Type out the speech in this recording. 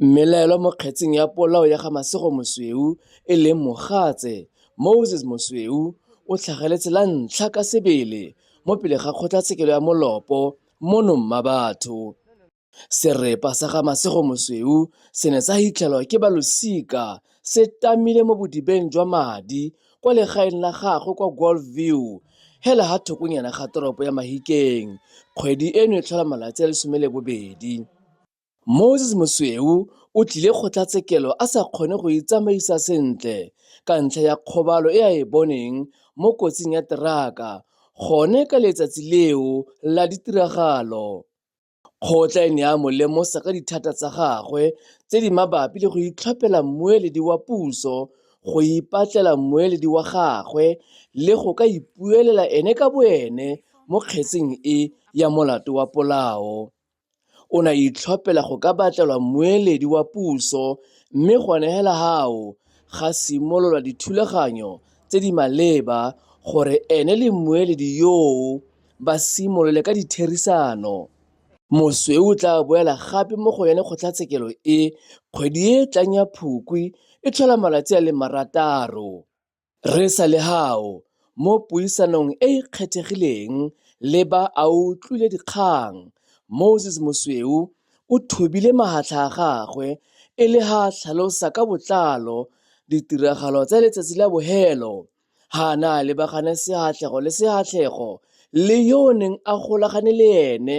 Mmelaelwa mo kgetseng ya polao ya ga Masego Mosweu e leng mogatse, Moses Mosweu, o tlhageletse la ntlha ka sebele mo pele ga kgotlatshekelo ya Molopo mono Mmabatho. Serepa sa ga Masego Mosweu se ne sa hitlhelwa ke ba losika se tamile mo bodibeng jwa madi kwa legaeng la gagwe kwa Golf View hela ha thokonyana ga toropo ya Mahikeng kgwedi eno e tlhola malatsi a le 12. Moses Mosweu o tlile kgotlatshekelo a sa kgone go itsamaisa sentle ka ntlha ya kgobalo e a e boneng mo kotsing ya teraka gone ka letsatsi leo la ditiragalo. Kgotla e ne ya mo lemosa ka dithata tsa gagwe tse di mabapi le go itlhophela mmueledi wa puso, go ipatlela mmueledi wa gagwe le go ka ipuelela ene ka boene mo kgetseng e ya molato wa polao. O ne a itlhophela go ka batlelwa mmueledi wa puso mme gone hela hao ga simololwa dithulaganyo tse di maleba gore ene le mmueledi yoo ba simolole ka ditherisano. Mosweu o tla boela gape mo go yone kgotlatshekelo e kgwedi e e tlang ya Phukwi e tlhola malatsi a le marataro. Re sa le hao mo puisanong e e kgethegileng le ba a utlwile dikgang, Moses Mosweu o thobile mahatlha a gagwe e le ha a tlhalosa ka botlalo ditiragalo tsa letsatsi la bohelo ha a ne a lebagane sehatlego le sehatlego le yo o neng a golagane le ene